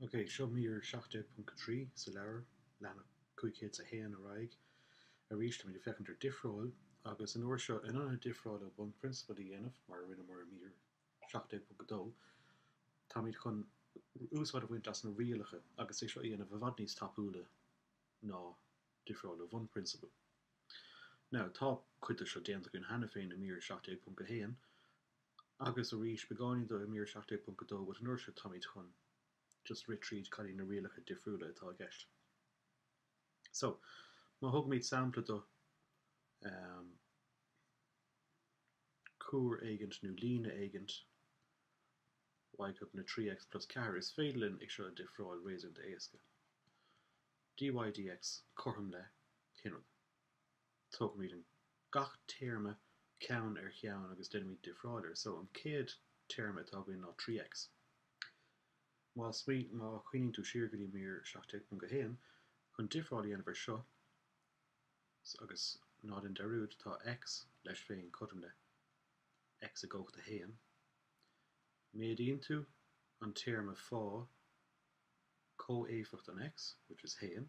OK, seo mír 17.3 sa leabhar, leathanach 501 ar aghaidh. Arís táimid ag féachaint ar difreáil, agus an uair seo, in ionad difreáil ó bhunphrionsabail a dhéanamh, mar a rinneamar i mír 17.2, táimid chun úsáid a bhaint as na rialacha agus é seo a dhéanamh i bhfad níos tapúla ná difreáil ó bhunphrionsabail. Now, tá cuid de seo déanta againn cheana féin i mír 17.1, agus arís beagáinín do i mír 17.2 but an uair seo táimid chun just rith tríd cad iad na rialacha difriúla atá i gceist. So, má thógaimid sampla do ehm cuar éigint nó líne éigint y cothrom le 3x plus 4 is féidir linn é seo a difreáil réasúnta éasca. dy dx cothrom le cén rud. Tógaimid an gach téarma ceann ar cheann agus deinimid difreáil air. So, an chéad téarma atá againn ná 3x. Má smaoin, má chuimhníonn tú siar go dtí mír 17.1, chun difreáil a dhéanamh ar seo agus ná dein dearúd, tá x leis féin cothrom le x i gcumhacht a 1. Méadaíonn tú an téarma fá comhéifeacht an x, which is 1.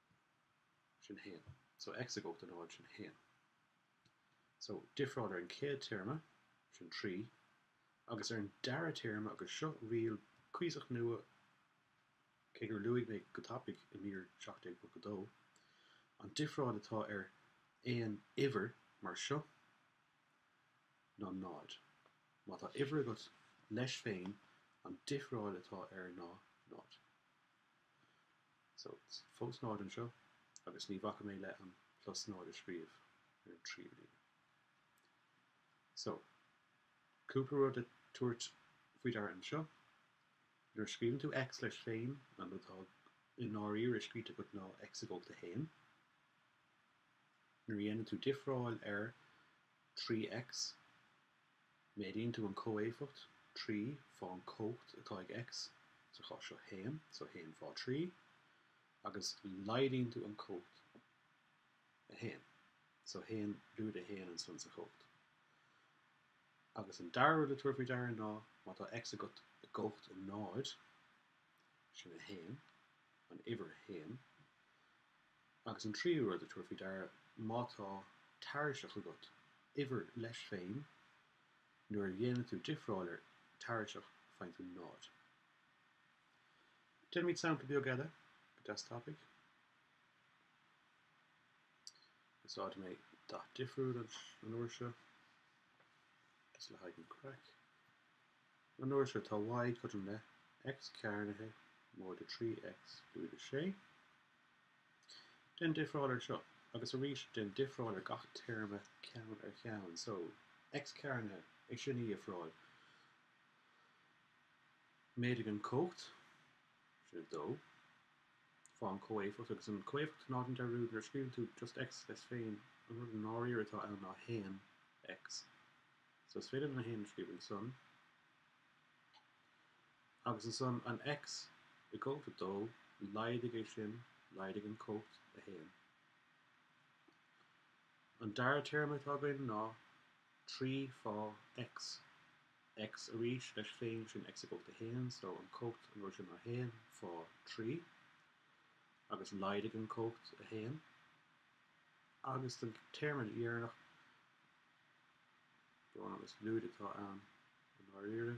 sin 1. So x i gcumhacht a 0 sin 1. So difreáil ar an chéad téarma, sin 3, agus ar an dara téarma agus seo riail cuíosach nua cé gur luaigh mé go tapaidh i mír 17.2, an difreáil atá ar aon uimhir mar seo ná 0. Má tá uimhir agat leis féin an difreáil atá air ná 0. fós 0 anseo agus ní bhacfaidh mé le an plus 0 a scríobh ar an tríú líne. so cúpla rud le tabhairt faoi deara anseo. nuair a scríobhann tú x leis féin an rud atá i ndáiríre scríte agat ná x i gcumhacht a haon. nuair a dhéanann tú difreáil ar 3x Méadaíonn tú an comhéifeacht trí fá an cumhacht atá ag X, sa chás seo 1, so 1 fá 3, agus laghdaíonn tú an cumhacht a 1, so 1 lúide 1 ansan sa chumhacht. Agus an dara rud le tabhairt faoi deara ná má tá X agat i gcumhacht a náid, sin 1, an uimhir 1, Agus an tríú rud a thabhairt faoi deara, má tá tairiseach agat, uimhir, leis féin, nuair a dhéanann tú difreáil ar tairiseach faigheann tú 0. Déanfaimid sampla beag eile go deas tapaidh. Úsáidfidh mé dath difriúil an uair seo, just le haghaidh an craic. An uair seo tá Y cothrom le X cearnaithe móide 3X lúide 6. déan difreáil ar seo agus arís déan difreáil ar gach téarma ceann ar cheann so, X cearnaithe é sin a dhifreáil méadaigh an cumhacht, sin 2, fá an comhéifeacht agus an comhéifeacht ná déan dearúd nuair a scríobhann tú just X leis féin an rud i ndáiríre atá ann ná 1, X so is féidir linn 1 a scríobh ansan. Agus ansan an X i gcumhacht 2, laghdaigh é sin, laghdaigh an cumhacht 1. An dara téarma atá againn ná 3 fá X, X arís leis féin, sin X i gcumhacht 1, so an cumhacht an uair sin ná 1 fá 3, agus laghdaigh an cumhacht 1. Agus don téarma dheireanach, brón agus lúide atá ann i ndáiríre.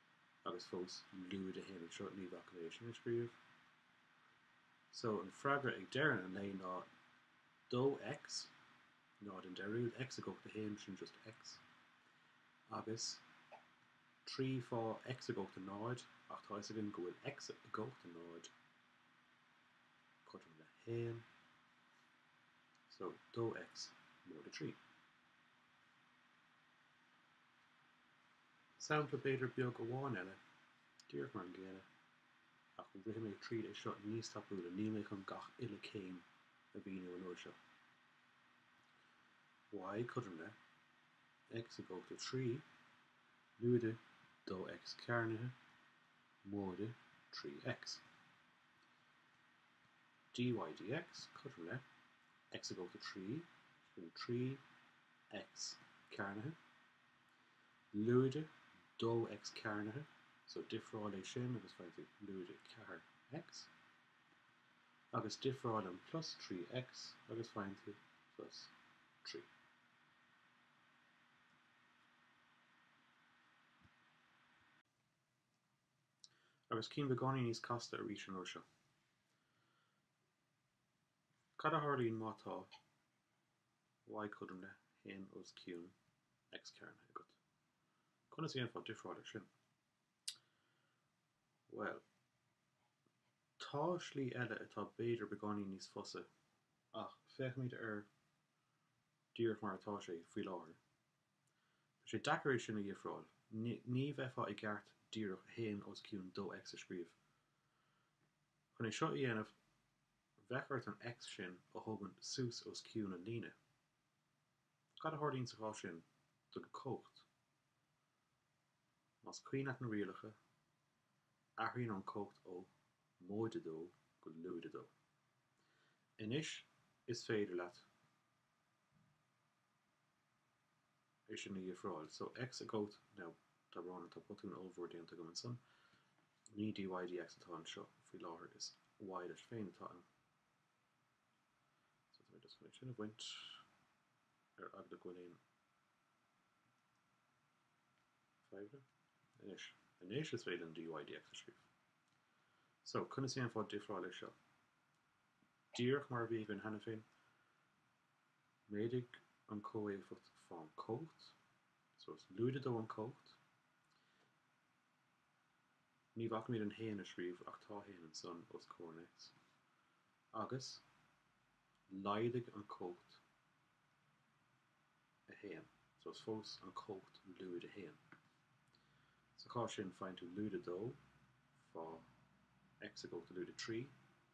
Agus fós lúide a haon anseo, ní bhacfaidh mé sin a scríobh. So, an freagra ag deireadh an lae ná 2X, ná déan dearúd, X i gcumhacht a haon, sin just X, agus 3 fá X i gcumhacht a náid, ach tá fhios againn go bhfuil X i gcumhacht a náid cothrom le haon, so 2X móide a trí. Sampla b'fhéidir beag amháin eile, díreach mar an gcéanna, ach rithfidh mé tríd é seo níos tapúla, níl mé chun gach uile céim a mhíniú an uair seo. Y cothrom le X i gcumhacht a trí, lúide, dó X cearnaithe, móide, trí X. Dy dx cothrom le X i gcumhacht a trí, nó trí X cearnaithe, lúide 2X cearnaithe, so difreáil é sin agus faigheann tú lúide 4X, agus difreáil an plus 3X agus faigheann tú plus 3. Agus cinn beagáinín níos casta arís an uair seo. Cad a tharlaíonn má tá. y cothrom le haon os cionn X cearnaithe agat? Conas a dhéanfá difreáil ar sin? Bhuel, tá slí eile atá b'fhéidir beagáinín níos fusa, ach féachaimid air díreach mar atá sé faoi láthair. Tá sé deacair é sin a dhifreáil, ní bheifeá i gceart díreach haon os cionn 2X a scríobh. Chun é seo a dhéanamh, Bheadh ort an X sin a thógaint suas os cionn an líne. Cad a tharlaíonn sa chás sin don comhacht? Más cuimhin leat na rialacha, athraíonn an comhacht ó móide a dó go lúide a dó. Anois is féidir leat é sin a dhifreáil. So X i gcomhacht now tá brón orm tá botún ollmhór déanta agam ansan. Ní dy dx atá anseo faoi láthair is y leis féin atá ann. So tá mé just chun é sin a bhaint ar eagla go bhfuil aon fadhbanna. Anois anois is féidir an dy dx a scríobh. So conas a dhéanfá difreáil ar seo? Díreach mar a bhí againn cheana féin, Méadaigh an comhéifeacht fán comhacht so is lúide dó an comhacht. Ní bhacaimid an haon a scríobh ach tá haon ansan os comhair an X. Agus laghdaigh an comhacht a haon so is fós an comhacht lúide a haon. Sa chás sin faigheann tú lúide dó fá X i gcomhacht a lúide trí.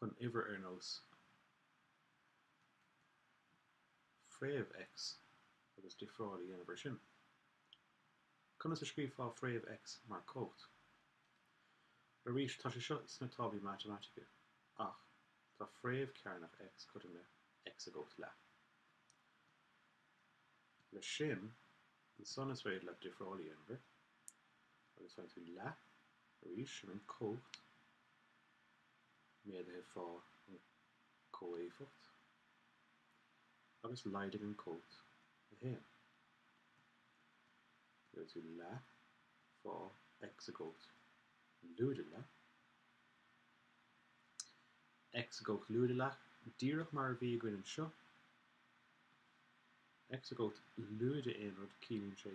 chun uimhir ar nós fréamh X agus difreáil a dhéanamh ar sin. Conas a scríobhfá fréamh X mar comhacht? Arís, tá sé seo sna táblaí matamaitice, ach tá fréamh cearnach X cothrom le X i gcomhacht leath. Leis sin, ansan is féidir leat difreáil a dhéanamh air, agus faigheann tú leath, arís, sin an comhacht. méadaithe fá an comhéifeacht agus laghdaigh an comhacht a haon. Gheobhaidh tú leath fá X i gcomhacht lúide leath X i gcomhacht lúide leath, díreach mar a bhí againn anseo. X i gcomhacht lúide aon rud, ciallaíonn sé.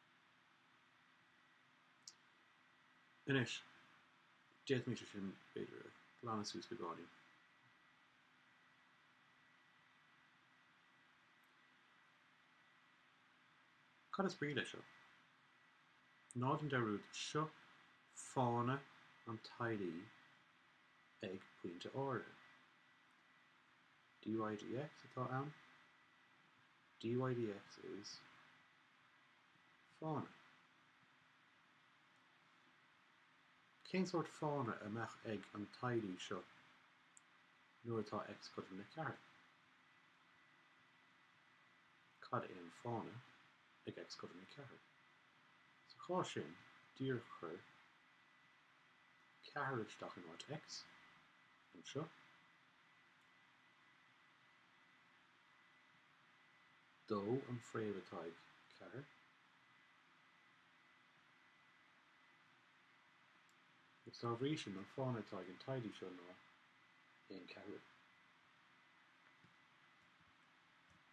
Anois, d'fhéadfaimis é sin, b'fhéidir, a ghlanadh suas beagáinín. Cad is brí leis seo? Ná déan dearúd, seo fána an tadhlaí ag pointe áirithe. DYDX atá ann. DYDX is Fána. Cén sórt fána a mbeadh ag an tadhlaí seo nuair atá X cothrom le ceathair? Cad é an fána ag X cothrom le ceathair? Sa chás sin, díreach cuir ceathair isteach in áit X, anseo. dó an fréamh atá ag ceathair agus dá bhrí sin an fána atá ag an tadhlaí seo ná aon ceathrú.